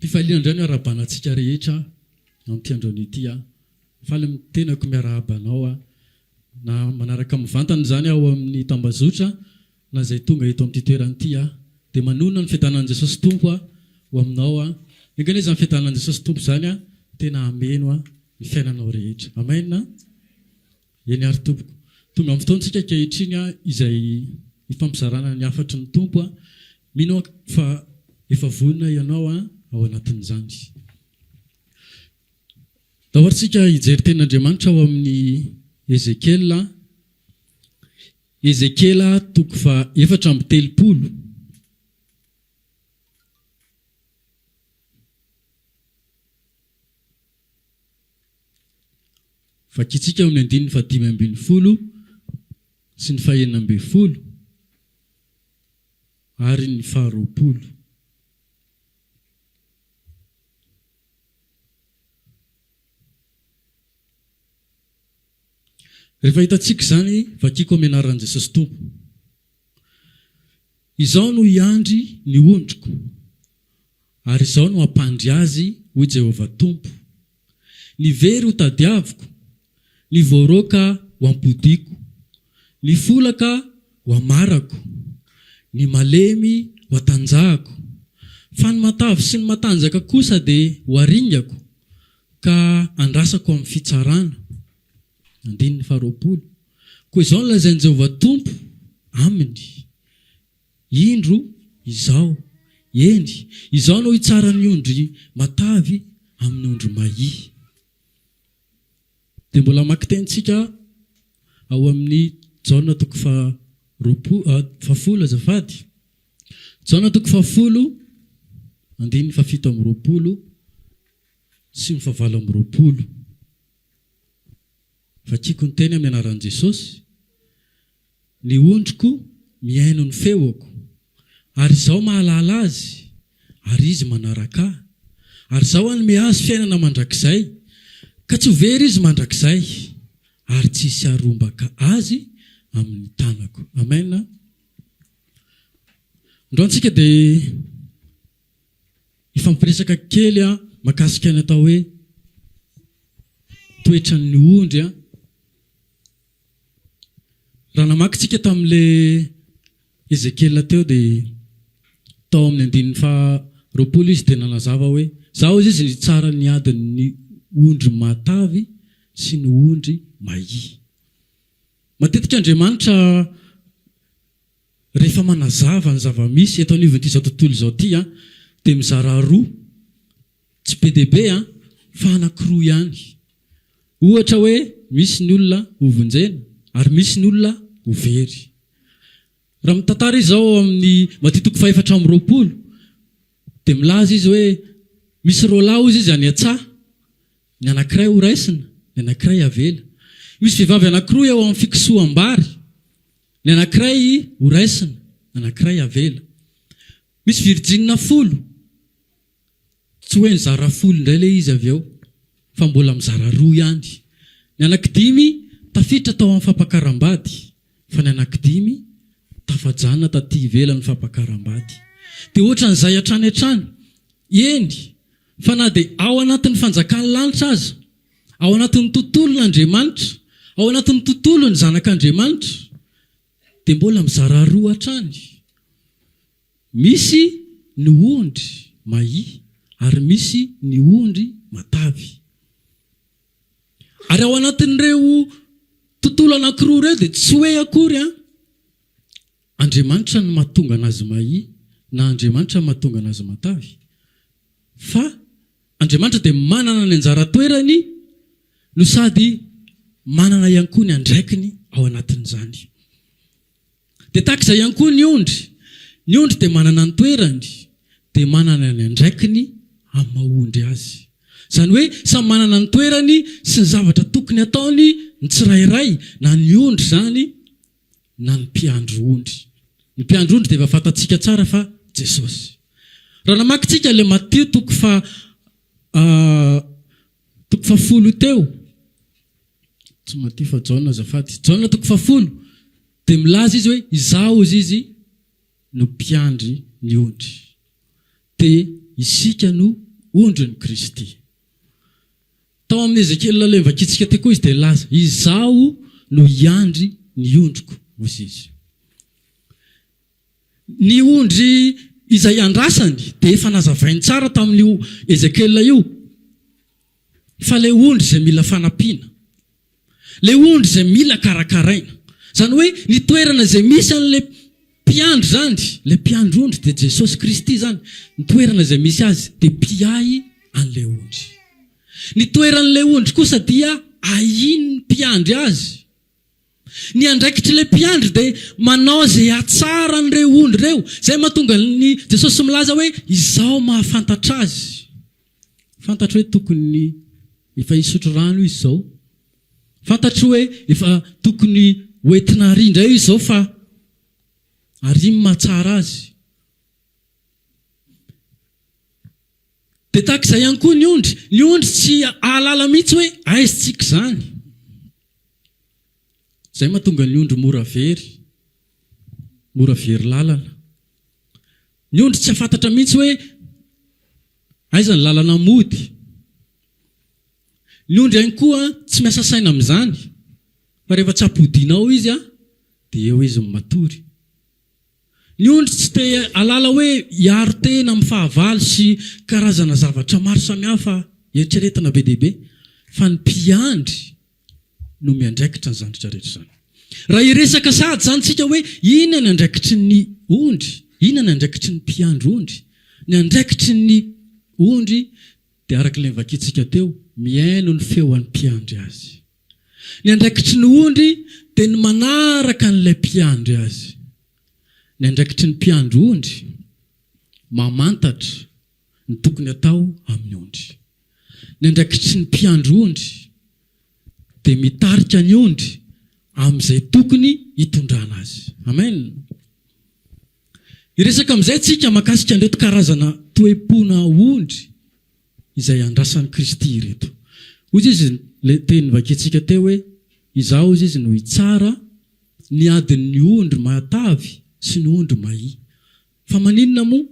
Fifaliana indray no arahabanantsika rehetra amin'ity androany ity aho. Faly amin'ny tenako miarahaba anao aho na manaraka mivantana izany aho ao amin'ny tambazotra Na izay tonga eto amin'ity toerana ity aho, dia manonona ny fiadanan'i Jesosy Tompo aho ho aminao aho. Enga anie izany fiadanan'i Jesosy Tompo izany aho tena hameno aho ny fiainanao rehetra. Amen. Eny ary tompoko. Tonga amin'ny fotoantsika ankehitriny aho izay hifampizarana ny hafatry ny Tompo aho. Mino aho fa efa vonona ianao aho ao anatin'izany. Tahorintsika hijery tenin'Andriamanitra ao amin'ny Ezekiela. Ezekiela toko fahefatra amby telopolo Vakintsika amin'ny andininy fahadimy ambin'ny folo sy ny fahenina ambin'ny folo ary ny faharoapolo. Rehefa hitantsika izany, vakiko amin'ny anaran'i Jesosy Tompo. Izaho no hiandry ny ondriko, ary izaho no hampandry azy, hoy Jehovah Tompo. Ny very hotadiaviko, ny voaroaka ho ampodiako, ny folaka ho hamarako, ny malemy ho hatanjahako, fa ny matavy sy ny matanjaka kosa dia ho haringako, Ka andrasako amin'ny fitsarana. Andininy faharoapolo. Koa izao no lazain'i Jehovah Tompo aminy, Indro izaho, eny, izaho no hitsara ny ondry matavy amin'ny ondry mahia. Dia mbola hamaky teny isika ao amin'ny Jaona toko fahafolo, azafady. Jaona toko fahafolo, andininy fahafito amby roapolo. sy ny fahavalo amby roapolo. Vakiko ny teny amin'ny anaran'i Jesosy, Ny ondriko mihaino ny feoko, ary Izaho mahalala azy, ary izy manaraka Ahy, ary Izaho hanome azy fiainana mandrakizay, ka tsy ho very izy mandrakizay, ary tsy hisy harombaka azy amin'ny tanako. Amen. Androany isika dia. Hifampiresaka kely an makasika ny atao hoe toetran'ny ondry an. Raha namaky tsika tamin'le Ezekiela teo dia tao amin'ny andininy faha roapolo izy dia nanazava hoe za hozy izy nitsara ny adin'ny ondry matavy sy ny ondry mahia. Matetika Andriamanitra Rehefa manazava ny zava-misy eto anivon'itizao tontolo izao ity aho dia mizara roa, tsy be dia be an, fa anankiroa ihany. Ohatra hoe misy ny olona ho vonjena ary misy ny olona ho very. Raha mitantara izy ao amin'ny Matia toko fahefatra amby roapolo dia milaza izy hoe misy roa lahy hozy izy any an-tsaha, ny anankiray horaisina, ny anankiray avela. Misy vehivavy anankiroa eo amin'ny fikosoham-bary. Ny anankiray ho raisina, ny anankiray avela. Misy virjinina folo. Tsy hoe nizara folo indray ilay izy avy eo, fa mbola mizara roa ihany. Ny anankidimy tafiditra tao amin'ny fampakaram-bady, fa ny anankidimy tafajanona taty ivelan'ny fampakaram-bady. Dia hoatran'izay hatrany hatrany. Eny, fa na dia ao anatin'ny fanjakan'ny lanitra aza, Ao anatin'ny tontolon'Andriamanitra, ao anatin'ny tontolon'ny zanak'Andriamanitra dia mbola mizara roa hatrany. Misy ny ondry mahia ary misy ny ondry matavy. Ary ao anatin'ireo tontolo anankiroa ireo dia tsy hoe akory an! Andriamanitra no mahatonga an'azy mahi na Andriamanitra no mahatonga an'azy matavy. Fa Andriamanitra dia manana ny anjara toerany no sady manana ihany koa ny andraikiny ao anatin'izany. Dia tahaka izay ihany koa ny ondry. Ny ondry dia manana ny toerany, dia manana ny andraikiny amin'ny maha-ondry azy. Izany hoe samy manana ny toerany sy ny zavatra tokony ataony ny tsirairay, na ny ondry izany, na ny mpiandry ondry. Ny mpiandry ondry dia efa fantatsika tsara fa Jesosy. Raha namaky tsika ilay Matio toko faha toko faha folo teo, tsy Matio fa Jaona azafady, Jaona toko faha folo dia milaza izy hoe izaho hozy izy no mpiandry ny ondry. Dia isika no ondrin'i Kristy. Tao amin'ny Ezekiela ilay vakitsika teo koa izy dia nilaza, Izaho no hiandry ny ondriko, hozy izy. Ny ondry izay andrasany dia efa nazavainy tsara tamin'io Ezekiela io fa ilay ondry izay mila fanampiana, ilay ondry izay mila karakaraina. Izany hoe ny toerana izay misy an'ilay mpiandry izany, ilay mpiandry ondry dia Jesosy Kristy izany, ny toerana izay misy Azy dia mpiahy an'ilay ondry. Ny toeran'ilay ondry kosa dia ahian'ny mpiandry azy. Ny andraikitr'ilay mpiandry dia manao izay hahatsara an'ireo ondry ireo. Izay mahatonga an'i Jesosy milaza hoe, Izaho mahafantatra azy. Fantatro hoe tokony efa hisotro rano izy izao. Fantatro hoe efa tokony ho entina àry indray izy izao fa àry ny mahatsara azy. Dia tahaka izay ihany koa ny ondry. Ny ondry tsy hahalala mihitsy hoe aiza tsiky izany. Izay mahatonga ny ondry mora very, mora very lalana. Ny ondry tsy hafantatra mihitsy hoe aiza ny lalana mody. Ny ondry ihany koa tsy miasa saina amin'izany fa rehefa tsy ampodiana ao izy dia eo izy no matory. Ny ondry tsy te halala hoe hiaro tena amin'ny fahavalo sy karazana zavatra maro samihafa eritreretina be dia be fa ny mpiandry. no miandraikitra izany zavatra rehetra izany. Raha hiresaka sahady izany isika hoe inona ny andraikitry ny ondry, inona ny andraikitry ny mpiandry ondry, ny andraikitry ny ondry dia araka ilay novakintsika teo, mihaino ny feo an'ny mpiandry azy. Ny andraikitry ny ondry dia ny manaraka an'ilay mpiandry azy. Ny andraikitry ny mpiandry ondry mamantatra ny tokony atao amin'ny ondry. Ny andraikitry ny mpiandry ondry dia mitarika ny ondry amin'izay tokony hitondrana azy. Amen. Hiresaka amin'izay isika mahakasika an'ireto karazana toe-pona ondry izay andrasan'i Kristy ireto. Hoy izy, izy ilay teny novakiantsika teo hoe, Izaho hoy izy no hitsara ny adin'ny ondry matavy sy ny ondry mahia. Fa maninona moa?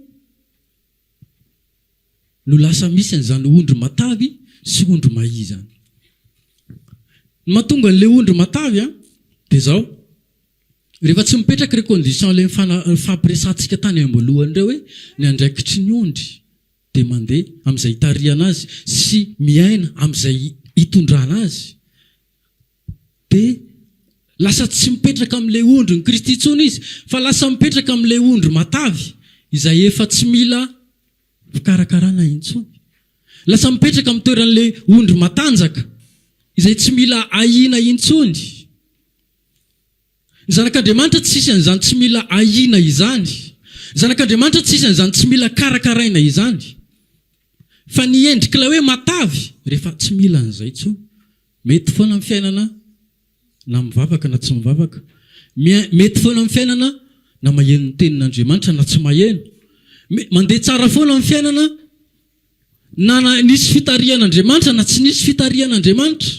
no lasa misy an'izany ondry matavy sy ondry mahia izany. Ny mahatonga an'ilay ondry matavy dia izao, rehefa tsy mipetraka ireo conditions ilay nifampiresahantsika tany am-boalohany ireo hoe ny andraikitry ny ondry dia mandeha amin'izay itarihana azy sy miaina amin'izay itondrana azy, Dia lasa tsy mipetraka amin'ilay ondrin'i Kristy intsony izy, fa lasa mipetraka amin'ilay ondry matavy, izay efa tsy mila fikarakarana intsony. Lasa mipetraka amin'ny toeran'ilay ondry matanjaka, izay tsy mila ahiana intsony. Ny Zanak'Andriamanitra tsy hisy an'izany tsy mila ahiana izany. Ny Zanak'Andriamanitra tsy hisy an'izany tsy mila karakaraina izany. Fa ny endrik'ilay hoe matavy, rehefa tsy mila an'izay intsony. Mety foana amin'ny fiainana na mivavaka na tsy mivavaka. Mety foana amin'ny fiainana na maheno ny tenin'Andriamanitra na tsy maheno. Mandeha tsara foana amin'ny fiainana na nisy fitarihan'Andriamanitra na tsy nisy fitarihan'Andriamanitra.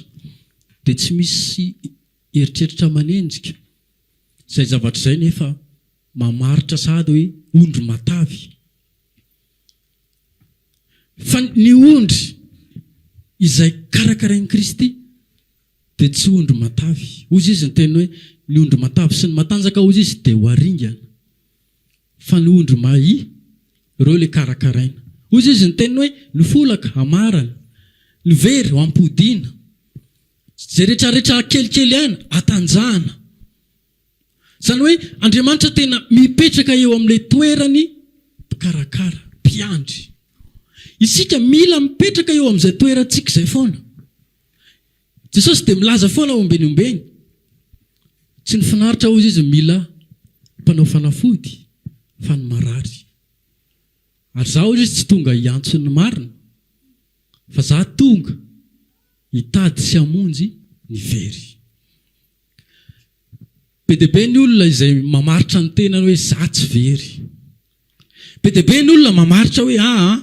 Dia tsy misy eritreritra manenjika. Izay zavatra izay nefa mamaritra sahady hoe ondry matavy. Fa ny ondry izay karakarain'i Kristy dia tsy ondry matavy. Hozy izy niteny hoe, ny ondry matavy sy ny matanjaka hozy izy dia ho haringana. Fa ny ondry mahi, ireo ilay karakaraina. Hozy izy niteny hoe, ny folaka hamarana, ny very hampodiana, izay retraretra kelikely ihany hatanjahana. Izany hoe Andriamanitra tena mipetraka eo amin'ilay toerany mpikarakara, mpiandry. Isika mila mipetraka eo amin'izay toerantsika izay foana. Jesosy dia milaza foana ao Ombeniombeny. Tsy ny finaritra hozy izy mila mpanao fanafody fa ny marary. Ary za hozy izy tsy tonga hiantso ny marina fa za tonga hitady sy hamonjy ny very. Be dia be ny olona izay mamaritra ny tenany hoe izaho tsy very. Be dia be ny olona mamaritra hoe aa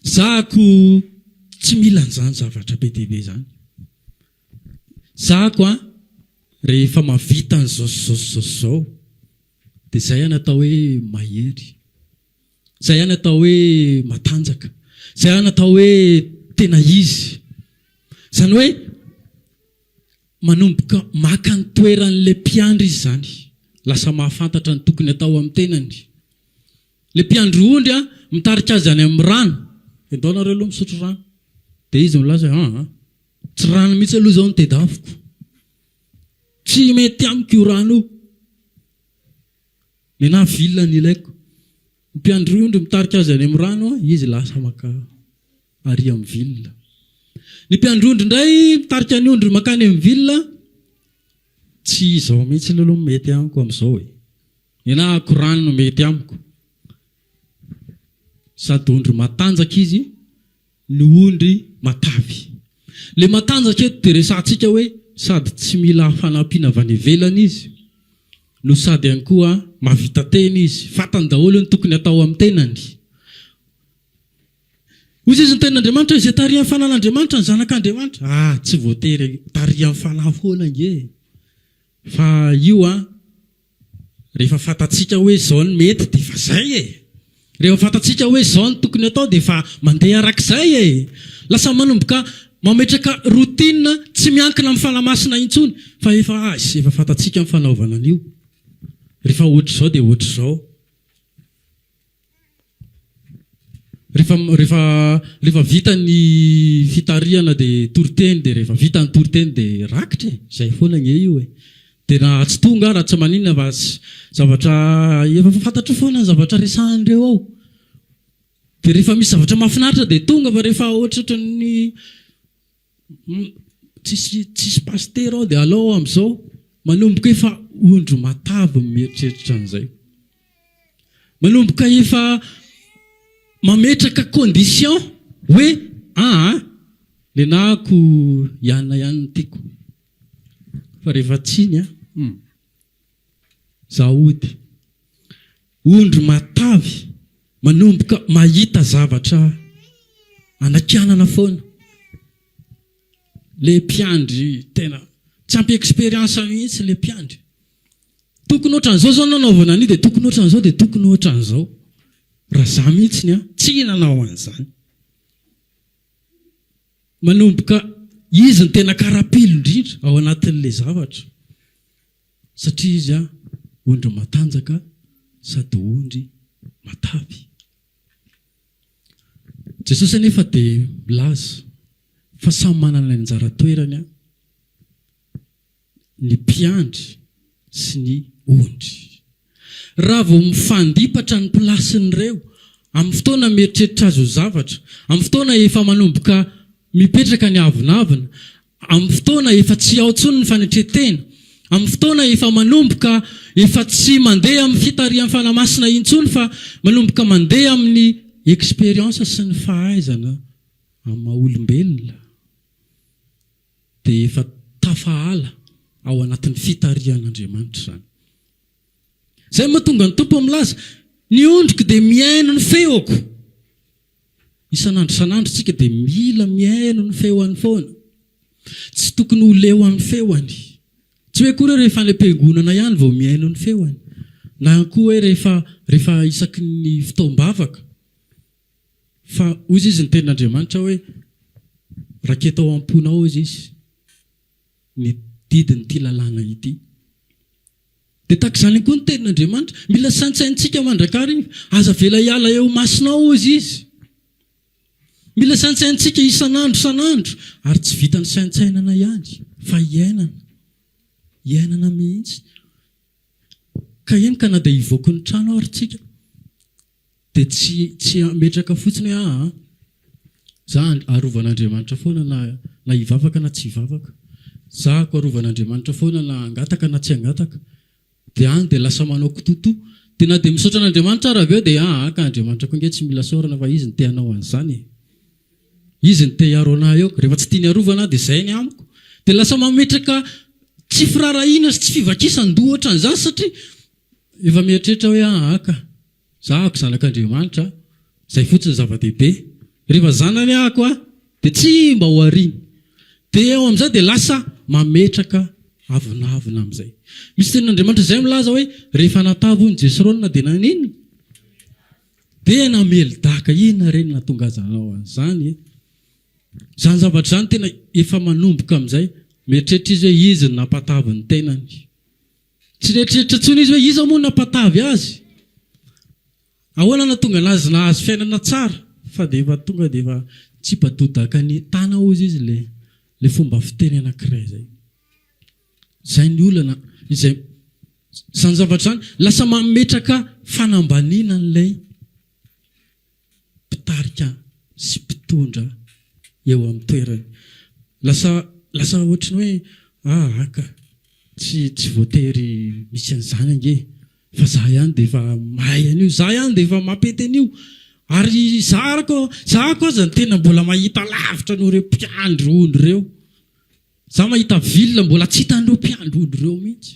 izaho ako tsy mila an'izany zavatra be dia be izany. Izaho ako an, rehefa mahavita an'izao sy izao sy izao sy izao dia izay an atao hoe mahery. Izay ihany atao hoe matanjaka. Izay ihany atao hoe tena izy. Izany hoe manomboka maka ny toeran'ilay mpiandry izy izany. Lasa mahafantatra ny tokony atao amin'ny tenany. Ilay mpiandry ondry mitarika azy any amin'ny rano. Endao nareo aloha misotro rano. Dia izy milaza hoe aa, tsy rano mihitsy aloha izao no tedaviko. Tsy mety amiko io rano io. Ialahy vilona ny ilaiko. Ny mpiandry ondry mitarika azy any amin'ny rano, izy lasa maka arỳ amin'ny vilona. Ny mpiandry ondry indray mitarika ny ondry mankany amin'ny vilona, tsy izao mihitsy ny aloha mety amiko amin'izao e. Ny anahy akorany no mety amiko. Sady ondry matanjaka izy, ny ondry matavy. Ilay matanjaka eto dia resahantsika hoe sady tsy mila fanampiana avy any ivelany izy no sady ihany koa mahavita tena izy, fantany daholo ny tokony hatao amin'ny tenany. Hoy Jesoa niteny an'Andriamanitra hoe, izay tarihan'ny fanan'Andriamanitra ny zanak'Andriamanitra. Ah, tsy voatery tarihan'ny fanahy foana ange fa io an. Rehefa fantatsika hoe izao no mety dia efa izay e! Rehefa fantatsika hoe izao no tokony atao dia efa mandeha araka izay e! Lasa manomboka mametraka routine tsy miankina amin'ny fanahy masina intsony fa efa azy, efa fantatsika ny fanaovana an'io, rehefa ohatr'izao dia ohatr'izao. Rehefa, rehefa, rehefa vita ny fitarihana dia toriteny, dia rehefa vita ny toriteny dia rakitra e, izay foana ange io e. Dia na tsy toa nga raha tsy maninona fa zavatra efa fantatrao foana ny zavatra resahan'ireo ao. Dia rehefa misy zavatra mahafinaritra dia tonga fa rehefa ohatrohatran'ny Tsisy tsisy pasitera ao dia alao aho amin'izao manomboka efa ondry matavy ny mieritreritra an'izay. Manomboka efa mametraka condition hoe aa nenahako hianona ihany ny tiako fa rehefa tsy iny an. Zaody, ondry matavy manomboka mahita zavatra anakianana foana. Le mpiandry tena tsy ampy expérience mihitsy le mpiandry. Tokony ohatran'izao zao nanaovana an'io dia tokony ohatran'izao dia tokony ohatran'izao. Raha za mihitsy ny ahy, tsy nanao an'izany. Manomboka izy no tena karapilo indrindra ao anatin'ilay zavatra satria izy ondry matanjaka sady ondry matavy. Jesosy anefa dia milaza fa samy manana ny anjara toerany. ny mpiandry sy ny ondry. Raha vao mifandipatra ny plasin'ireo, amin'ny fotoana mieritreritra azy ho zavatra, amin'ny fotoana efa manomboka mipetraka ny avonavona, amin'ny fotoana efa tsy ao intsony ny fanetren-tena, amin'ny fotoana efa manomboka efa tsy mandeha amin'ny fitarihan'ny Fanahy Masina intsony fa manomboka mandeha amin'ny expérience sy ny fahaizana amin'ny maha-olombelona, dia efa tafahala ao anatin'ny fitarihan'Andriamanitra izany. Izay no mahatonga ny Tompo milaza, Ny ondriko dia mihaino ny feoko. Isan'andro isan'andro isika dia mila mihaino ny feony foana. Tsy tokony ho leo amin'ny feony. Tsy hoe akory hoe rehefa any am-piangonana ihany vao mihaino ny feony, na koa hoe rehefa isaky ny fotoam-bavaka. Fa hoy izy, ny tenin'Andriamanitra hoe, Raketa ao am-ponao, hoy izy, ny didin'ity lalàna ity. Dia tahaka izany ihany koa ny tenin'Andriamanitra, mila saintsaintsika mandrakariva. Aza avela hiala eo imasonao, hoy izy. Mila saintsaintsika isan'andro isan'andro, ary tsy vitan'ny saintsainana ihany, fa iainana. Iainana mihitsy. Ka eny ka na dia hivoaky ny trano ary isika, Dia tsy tsy hametraka fotsiny hoe aa za arovan'Andriamanitra foana na na hivavaka na tsy hivavaka, za ko arovan'Andriamanitra foana na hangataka na tsy hangataka, dia any dia lasa manao kitoto, dia na dia misaotra an'Andriamanitra ara avy eo dia aa ka Andriamanitra koa ange tsy mila saorana fa izy no te hanao an'izany e, izy no te hiaro anah eo, rehefa tsy tiany arovana aho dia zay ny amiko, dia lasa mametraka tsy firaharahiana sy tsy fivakisan-doha ohatran'izany satria Efa mieritreritra hoe aah aka, za ako zanak'Andriamanitra a, zay fotsiny zava-dehibe. Rehefa zanany ako a, dia tsy mba ho ariny. Dia eo amin'izay dia lasa mametraka avonavona amin'izay. Misy tenin'Andriamanitra izay milaza hoe, rehefa natavy hono Jesrona dia naninona? Dia namely daka. Inona re no nahatonga azy hanao an'izany e? Izany zavatra izany tena efa manomboka amin'izay, mieritreritra izy hoe izy no nampatavy ny tenany. Tsy nieritreritra intsony izy hoe iza moa no nampatavy azy. Ahoana no nahatonga an'azy nahazo fiainana tsara? Fa dia efa tonga dia efa tsipa-dodaka ny tana hozy izy ilay ilay fomba fiteny anankiray izay. Izay ny olana, izay izany zavatra izany lasa mametraka fanambaniana an'ilay mpitarika sy mpitondra eo amin'ny toerany. Lasa lasa ohatry ny hoe ah ah ka! tsy tsy voatery misy an'izany ange fa za ihany dia efa mahay an'io, za ihany dia efa mampety an'io ary za ary ko za ko aza ny tena mbola mahita lavitra noho ireo mpiandry ondry ireo, za mahita ville mbola tsy hitan'ireo mpiandry ondry ireo mihitsy.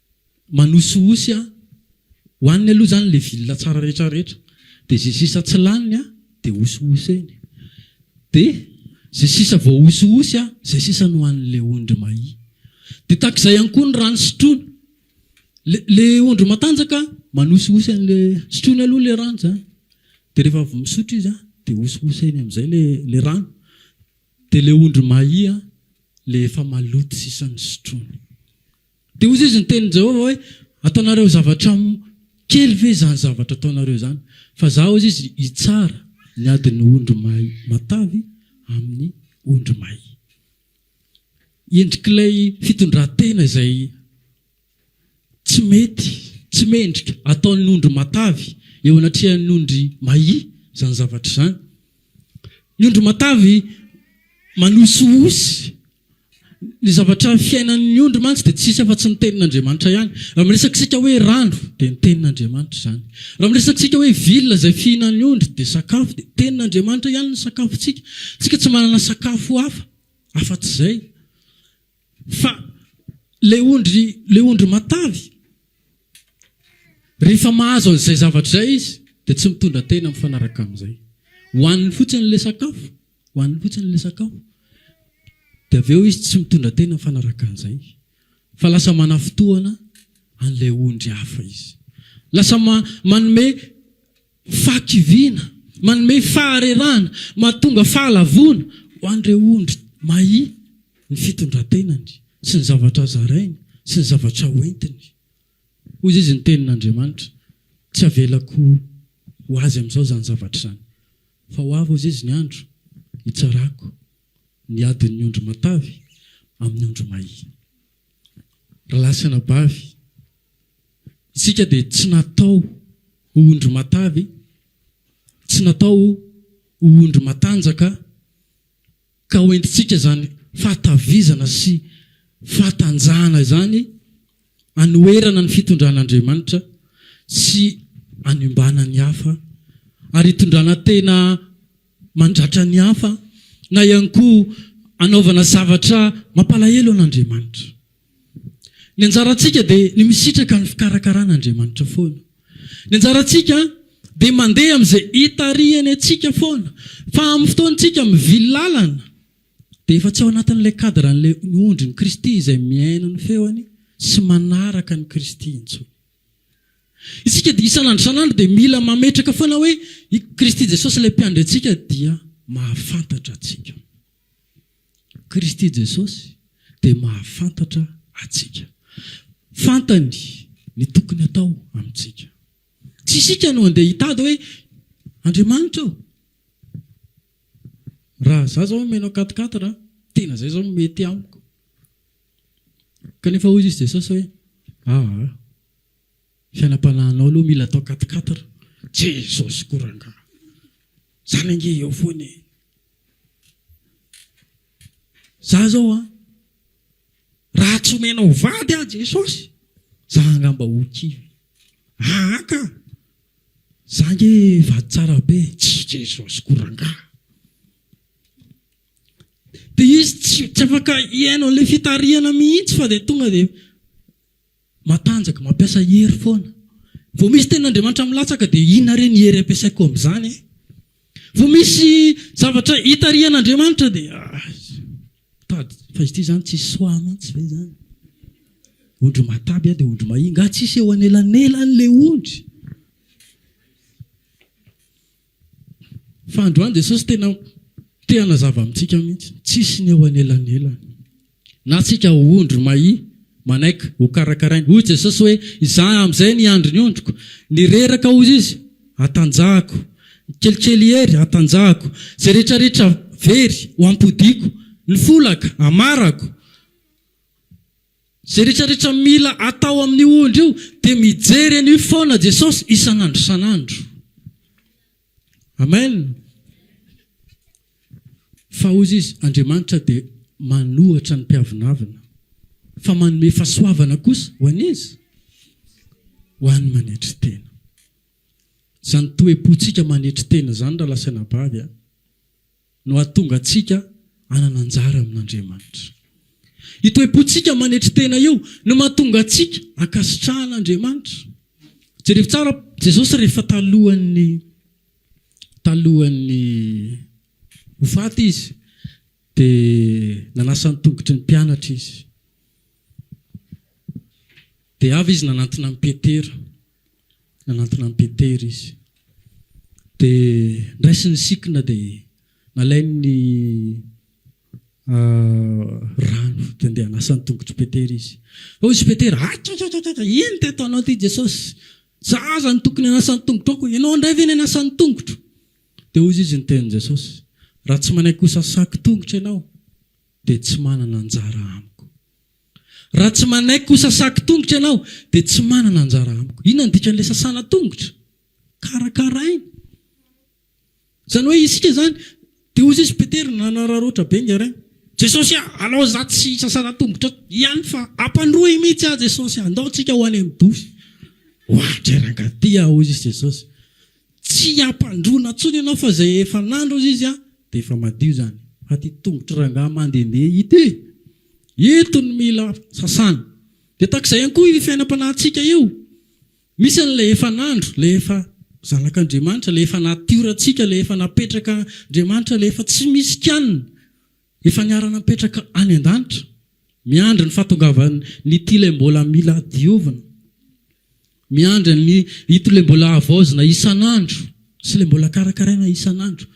manosihosy a! hoaniny aloha zany le vilona tsara rehetra rehetra de ze sisa tsy laniny a de hosihoseny de ze sisa voahosihosy a zay sisa no hoan'le ondry mahia de takzay ihany koa ny rano sotroiny le le ondry matanjaka manosihosy an'le sotroiny aloha le rano zany de rehefa avy misotro izy a de hosihoseny am'zay le le rano de le ondry mahia le efa maloto sisa ny sotroiny. Dia hoy Jesoa, Ny tenin'i Jehovah hoe, Ataonareo zavatra kely ve izany zavatra ataonareo izany? Fa Izaho, hoy Izy, hitsara ny adin'ny ondry may matavy amin'ny ondry may. Endrik'ilay fitondran-tena izay tsy mety, tsy mendrika, ataon'ny ondry matavy eo anatrehan'ny ondry may izany zavatra izany. Ny ondry matavy manosihosy. Ny zavatra fiainan'ny ondry mantsy dia tsy misy afa-tsy ny tenin'Andriamanitra ihany. Raha miresaka isika hoe rano dia ny tenin'Andriamanitra izany. Raha miresaka isika hoe villa izay fihinan'ny ondry dia sakafo dia tenin'Andriamanitra ihany ny sakafontsika. Isika tsy manana sakafo hafa afa-tsy izay. Fa ilay ondry, ilay ondry matavy, rehefa mahazo an'izay zavatra izay izy dia tsy mitondra tena mifanaraka amin'izay. Hohaniny fotsiny ilay sakafo Hohaniny fotsiny ilay sakafo. Dia avy eo izy tsy mitondra tena mifanaraka an'izay. Fa lasa manafintohana an'ilay ondry hafa izy. Lasa manome fahakiviana, manome faharerahana, mahatonga fahalavoana ho an'ireo ondry may ny fitondran-tenany sy ny zavatra zarainy sy ny zavatra hoentiny. Hoy izy, Ny Tenin'Andriamanitra, tsy havelako ho azy amin'izao izany zavatra izany. Fa ho avy, hoy izy, ny andro hitsarako ny adin'ny ondry matavy amin'ny ondry mahia. Ry lahy sy anabavy, isika dia tsy natao ho ondry matavy, tsy natao ho ondry matanjaka, Ka ho entintsika izany fahatavizana sy fahatanjahana izany anoherana ny fitondran'Andriamanitra sy anombana ny hafa ary hitondrana tena mandratra ny hafa na ihany koa hanaovana zavatra mampalahelo an'Andriamanitra. Ny anjarantsika dia ny misitraka ny fikarakarana Andriamanitra foana. Ny anjarantsika dia mandeha amin'izay itarihany antsika foana. Fa amin'ny fotoantsika mivily lalana dia efa tsy ao anatin'ilay cadre-n'ilay ondrin'i Kristy izay mihaino ny feony sy manaraka an'i Kristy intsony. Isika dia isan'andro isan'andro dia mila mametraka foana hoe i Kristy Jesosy ilay Mpiandry antsika dia mahafantatra antsika. Kristy Jesosy dia mahafantatra antsika. Fantany ny tokony hatao amintsika. Tsy isika no handeha hitady hoe Andriamanitra ô, raha za zao omena katikaty ra tena zay zao mety amiko. Kanefa hoy izy Jesosy hoe aa. Fianam-panahinao aloha mila atao quatre quatre Jesosy ko rangaha zany ange eo foana e! Za zao an raha tsy omenao vady aho Jesosy za angamba ho kivy aa ka! Za nge vady tsara be e! Tsy Jesosy ko rangaha! Dia izy tsy afaka hihaino an'ilay fitarihana mihitsy fa dia tonga dia Matanjaka, mampiasa hery foana. Vao misy tenin'Andriamanitra milatsaka dia inona re ny hery ampiasaiko amin'izany e? Vao misy zavatra itarihan'Andriamanitra dia mitady, fa izy ity izany tsisy soa mihitsy ve izany? Ondry mataby aho dia ondry mahia, nga tsisy eo anelanelan'ilay ondry? Fa androany Jesosy tena te hanazava amintsika mihitsy, tsisy ny eo anelanelany. Na tsika ondry mahi manaiky ho karakarainy. Hoy Jesosy hoe, izaho amin'izay ny andry ny ondriko. Ny reraka hoy Izy, hatanjahako. Ny kelikely hery, hatanjahako. Izay rehetra rehetra very, ho ampodiako. Ny folaka, hamarako. Izay rehetra rehetra mila atao amin'io ondry io dia mijery an'io foana Jesosy isan'andro isan'andro. Amen. Fa hozy izy, Andriamanitra dia manohatra ny mpiavonavona, fa manome fasoavana kosa ho an'iza? Ho an'ny manetry tena. Izany toepotsika manetry tena izany raha lasaina bavy a. no hahatonga antsika hanana anjara amin'Andriamanitra. Io toe-pontsika manetry tena io no mahatonga antsika hankasitrahana Andriamanitra. Jerevo tsara Jesosy rehefa talohan'ny talohan'ny ho faty izy dia nanasa ny tongotry ny mpianatra izy. Dia avy izy nanantona an'i Petera. Nanantona an'i Petera izy. Dia ndraisiny ny sikina dia nalainy ny rano dia ndeha hanasa ny tongotr'i Petera izy. Hoy izy Petera, Akakakaka, inona ity ataonao ity Jesosy? Za aza no tokony hanasa ny tongotrao koa ianao indray ve ny hanasa ny tongotro? Dia hoy izy ny tenin'i Jesosy, Raha tsy manaiky hosasako tongotra ianao dia tsy manana anjara amiko. Raha tsy manaiky ho sasako tongotra ianao, dia tsy manana anjara amiko. Inona no dikan'ilay sasana tongotra? Karakaraina. Izany hoe isika izany, dia hoy Jesosy, Petera nanararaotra be ingahy Ray, Jesosy a, alao izaho tsy hisasana tongotra eto ihany fa ampandroy mihitsy aho Jesosy a, andao tsika ho any amin'ny Dosy. Oadray rangahy ity a, hoy Jesosy. Tsy hampandroana tsony ianao fa zay efa nandro izy a de efa madio zany fa ty tongotry rangaha mandende ity ito no mila sasana de takzay ihany koa io fiainampanahitsika io misy anle efa nandro le efa zanak'Andriamanitra le efa natiorantsika le efa napetraka Andriamanitra le efa tsy misy kianina Efa niarana mipetraka any an-danitra, miandry ny fahatongavan' ity ilay mbola mila diovina, miandry an' ito ilay mbola havaozina isan' andro sy ilay mbola karakaraina isan' andro,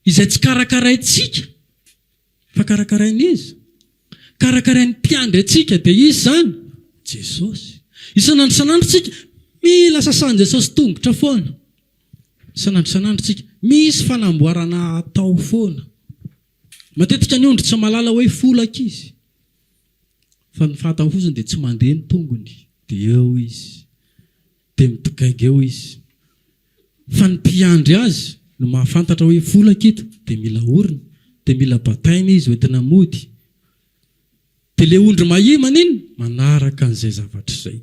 izay tsy karakaraintsika fa karakarain' Izy, karakarain' ny Mpiandry antsika, dia Izy izany, Jesosy. Isan' andro isan' andro isika mila sasan' Jesosy tongotra foana, isan' andro isan' andro isika misy fanamboarana hatao foana. Matetika ny ondry tsy mahalala hoe folaka izy fa ny fantany fotsiny dia tsy mandeha ny tongony dia eo izy dia midogainga eo izy fa ny mpiandry azy no mahafantatra hoe folaka ito dia mila orina dia mila bataina izy hoentina mody dia ilay ondry mahia maninn manaraka an'izay zavatra izay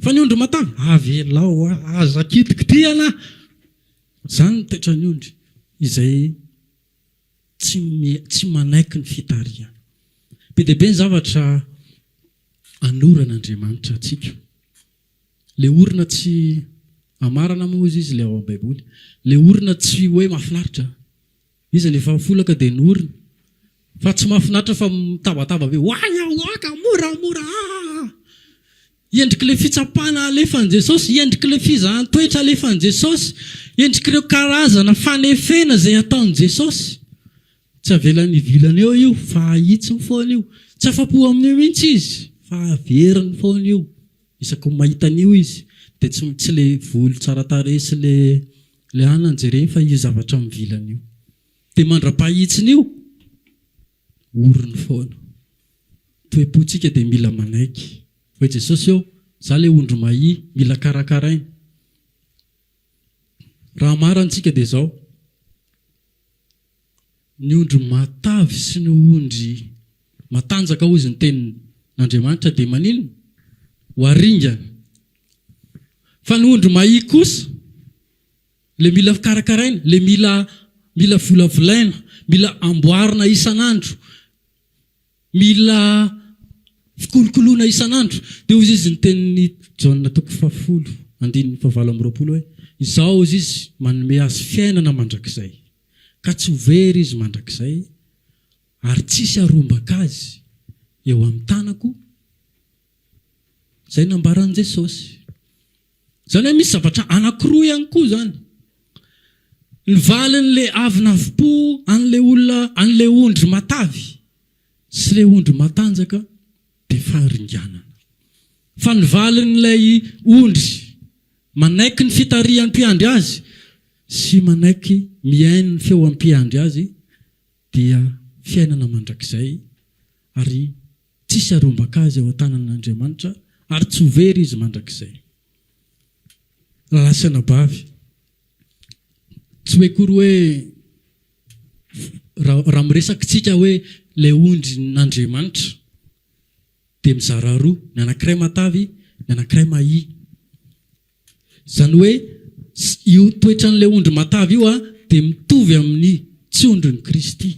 fa ny ondry matavy avelao aza kitikitihana izany ny toetran'ny ondry izay tsy manaiky ny fitarihana. Be dia be ny zavatra anoran' Andriamanitra antsika. Ilay orona tsy amarana moa hozy izy ilay ao am-baiboly. Ilay orona tsy hoe mahafinaritra. Iza no efa mifolaka dia ny orona. Fa tsy mahafinaritra fa mitabataba be, oay aho, oaka, mora, mora, aa. Endrik'ilay fitsapana alefan'i Jesosy, endrik'ilay fizahan-toetra alefan'i Jesosy, endrik'ireo karazana fanefena izay ataon'i Jesosy. Tsy avelany hivilana eo io, fa ahitsiny foana io. Tsy afa-po amin'io mihitsy izy, fa averiny foana io. Isaky ny mahita an'io izy, dia tsy tsy ilay volo tsara tarehy sy ilay ilay anona no jereny, fa io zavatra mivilana io. Dia mandra-pahitsiny io. orony foana. Toe-pontsika dia mila manaiky. Hoy Jesosy eo, Izaho ilay ondry mahia, mila karakaraina. Raha hamarantsika dia izao, ny ondry matavy sy ny ondry matanjaka hoy izy ny tenin'Andriamanitra dia maninona? Ho aringana. Fa ny ondry mahia kosa, Ilay mila karakaraina, ilay mila mila volavolaina, mila amboarina isan'andro, mila fikolokoloana isan'andro. Dia hoy izy ny tenin'i Jaona toko fahafolo andininy fahavalo amby roapolo hoe, Izaho hoy izy manome azy fiainana mandrakizay, ka tsy ho very izy mandrakizay, ary tsy hisy harombaka azy eo amin'ny tanako. Izay nambaran'i Jesosy. Izany hoe misy zavatra anankiroa ihany koa izany, ny valin'ilay avona avim-po an'ilay olona, an'ilay ondry matavy sy ilay ondry matanjaka dia faharinganana. Fa ny valin'ilay ondry manaiky ny fitarihan'ny mpiandry azy sy manaiky mihaino ny feo ampiandry azy dia fiainana mandrakizay, ary tsisy arombaka azy ao an-tanan'Andriamanitra, ary tsy ho very izy mandrakizay. Raha lasa anabavy, tsy hoe akory hoe, raha miresaka isika hoe ilay ondrin'Andriamanitra, dia mizara roa, ny anankiray matavy, ny anankiray mahia. Izany hoe io toetran'ilay ondry matavy io dia mitovy amin'ny tsy ondrin'i Kristy.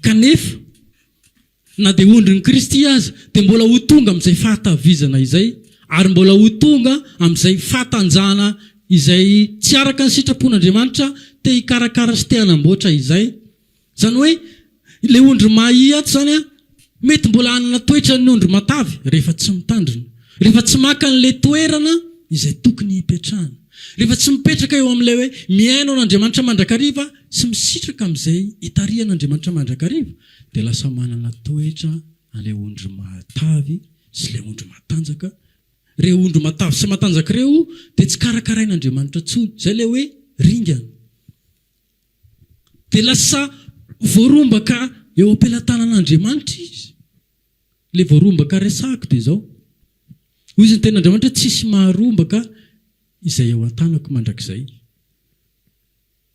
Kanefa, na dia ondrin'i Kristy aza, dia mbola ho tonga amin'izay fahatavizana izay, ary mbola ho tonga amin'izay fahatanjahana izay tsy araka ny sitrapon'Andriamanitra te-hikarakara sy te-hanamboatra izay, Izany hoe, ilay ondry mahia ato izany an, mety mbola hanana toetran'ny ondry matavy rehefa tsy mitandrina, rehefa tsy maka an'ilay toerana izay tokony hipetrahany, rehefa tsy mipetraka eo amin'ilay hoe mihaino an'Andriamanitra mandrakariva sy misitraka amin'izay itarihan'Andriamanitra mandrakariva, dia lasa manana toetra an'ilay ondry matavy sy ilay ondry matanjaka. Ireo ondry matavy sy matanjaka ireo dia tsy karakarain'Andriamanitra intsony. Izay ilay hoe ringana. dia lasa voarombaka eo am-pelatanan'Andriamanitra izy. Ilay voarombaka resahako dia izao, hoy izy ny tenin'Andriamanitra, tsisy maharombaka izay ao an-tanako mandrakizay.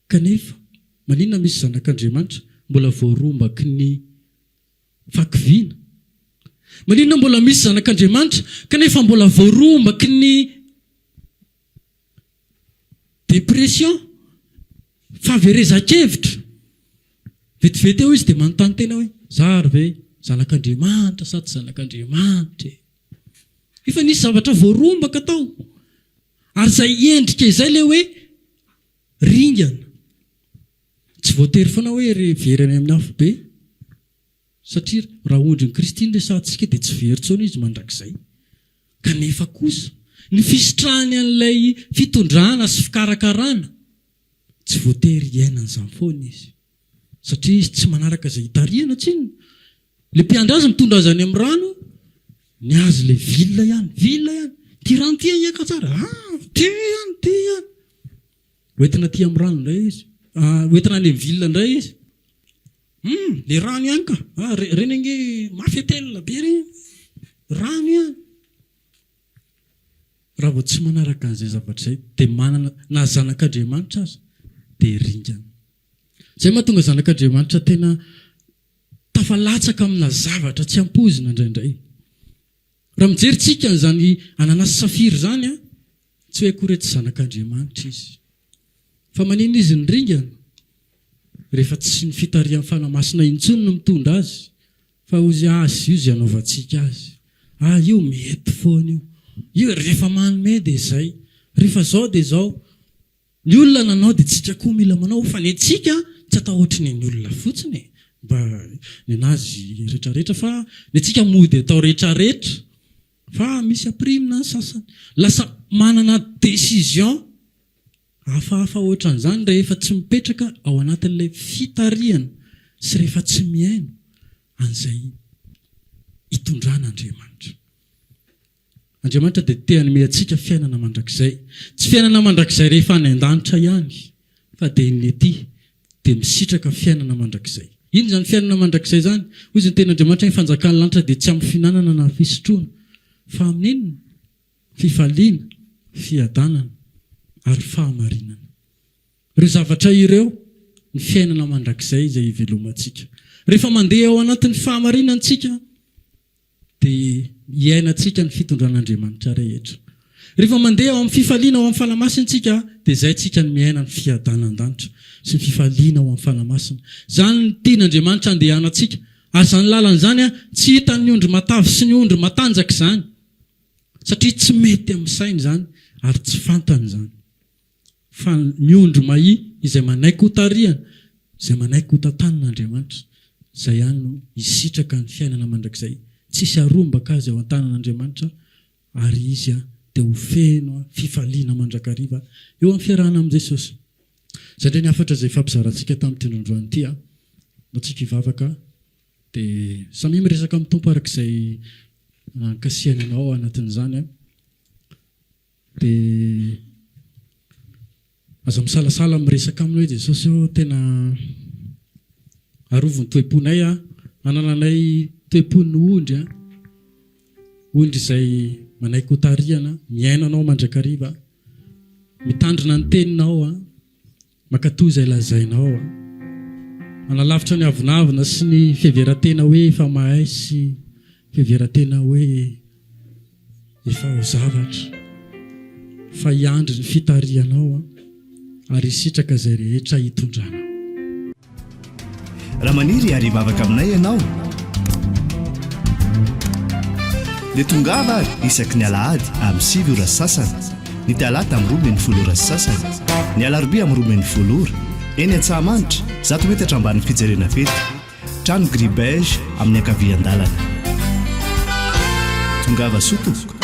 Kanefa, maninona misy zanak'Andriamanitra mbola voarombaky ny fahakiviana? Maninona mbola misy zanak'Andriamanitra kanefa mbola voarombaky ny Dépression, fahaverezan-kevitra. Vetivety eo izy dia manontany tena hoe, za ary ve zanak'Andriamanitra sa tsy zanak'Andriamanitra e? Efa nisy zavatra voarombaka tao. Ary izay endrika izay ilay hoe ringana. Tsy voatery foana hoe very any amin'ny afobe. Satria raha ondrin'i Kristy ny resahantsika dia tsy very intsony Izy mandrakizay. Kanefa kosa, ny fisitrahany an'ilay fitondrana sy fikarakarana, tsy voatery hiainany izany foana Izy. Satria Izy tsy manaraka izay itarihana, tsinona. Ilay mpiandry Azy mitondra Azy any amin'ny rano, ny Azy ilay villa ihany, villa ihany. Ity rano ity ahiaka tsara, ah! Ity ihany, ity ihany. Hoentina aty amin'ny rano indray Izy, ah, hoentina any amin'ny villa indray Izy. Humm le rano ihany ka! Ah re, reny ange mafy atel be re! Rano ihany! Raha vao tsy manaraka an'izay zavatra izay dia manana na zanak'Andriamanitra aza dia ringana. Izay mahatonga zanak'Andriamanitra tena tafalatsaka amina zavatra tsy ampoizina indraindray. Raha mijery tsika an'izany anana sy safira izany an, Tsy hoe akory hoe tsy zanak'Andriamanitra izy. Fa maninona izy no ringana? Rehefa tsy ny fitarihan'ny Fanahy Masina intsony no mitondra azy, fa ozy azy io izay anaovantsika azy. Ah, io mety foana io. Io rehefa manome dia izay. Rehefa izao dia izao. Ny olona nanao dia tsika koa mila manao, fa ny antsika tsy atao ohatry ny an'ny olona fotsiny e. Mba ny an'azy retraretra, fa ny antsika mody atao retraretra. Fa misy aprimina ny sasany. Lasa manana décision hafahafa hoatran'izany rehefa tsy mipetraka ao anatin'ilay fitarihana sy rehefa tsy mihaino an'izay itondran'Andriamanitra. Andriamanitra dia te hanome antsika fiainana mandrakizay. Tsy fiainana mandrakizay rehefa any an-danitra ihany Fa dia ny ety dia misitraka fiainana mandrakizay. Inona izany fiainana mandrakizay izany? Hoy izy, Ny Tenin'Andriamanitra, ny fanjakan'ny lanitra dia tsy amin'ny fihinanana na fisotroana, fa amin'ny inona? Fifaliana, fiadanana, ary fahamarinana. Ireo zavatra ireo ny fiainana mandrakizay izay hivelomantsika. Rehefa mandeha ao anatin'ny fahamarinana isika, Dia iainantsika ny fitondran'Andriamanitra rehetra. Rehefa mandeha ao amin'ny fifaliana ao amin'ny Fanahy Masina isika dia izay isika no miaina ny fiadanan-danitra sy ny fifaliana ao amin'ny Fanahy Masina. Izany no tian'Andriamanitra andehanantsika. Ary izany lalana izany tsy hitan'ny ondry matavy sy ny ondry matanjaka izany. Satria tsy mety amin'ny sainy izany ary tsy fantany izany. Fa ny ondry mahia izay manaiky ho tarihana, izay manaiky ho tantanin' Andriamanitra, izay ihany no hisitraka ny fiainana mandrakizay tsisy harombaka azy ao an-tanan' Andriamanitra, ary izy dia ho feno fifaliana mandrakariva eo amin'ny fiarahana amin'i Jesosy. Izay indray ny hafatra izay hifampizarantsika tamin'ity indro androany ity. Mba tsika hivavaka, dia samia miresaka amin'ny Tompo araka izay ankasiahiny anao ao anatin'izany. Dia aza misalasala miresaka aminy hoe Jesosy ô tena arovy ny toe-ponay a, anananay toe-pon'ny ondry a, ondry izay manaiky ho tarihana, miaina Anao mandrakariva, mitandrina ny Teninao a, Mankatoa izay lazainao a. Manalavitra ny avonavona sy ny fiheveran-tena hoe efa mahay sy fiheveran-tena hoe efa ho zavatra. Fa hiandry ny fitarihanao ary hisitraka izay rehetra hitondranao. Raha maniry hiary hivavaka aminay ianao, dia tongava ary isaky ny alahady amin'ny sivy ora sy sasany, ny talata amin'ny roa min'ny folo ora sy sasany, ny alarobia amin'ny roa min'ny folo ora, eny Antsahamanitra, zato metatra ambanin'ny fijerena fety, trano gris beige amin'ny ankavian-dalana. Tongava soa tompoko.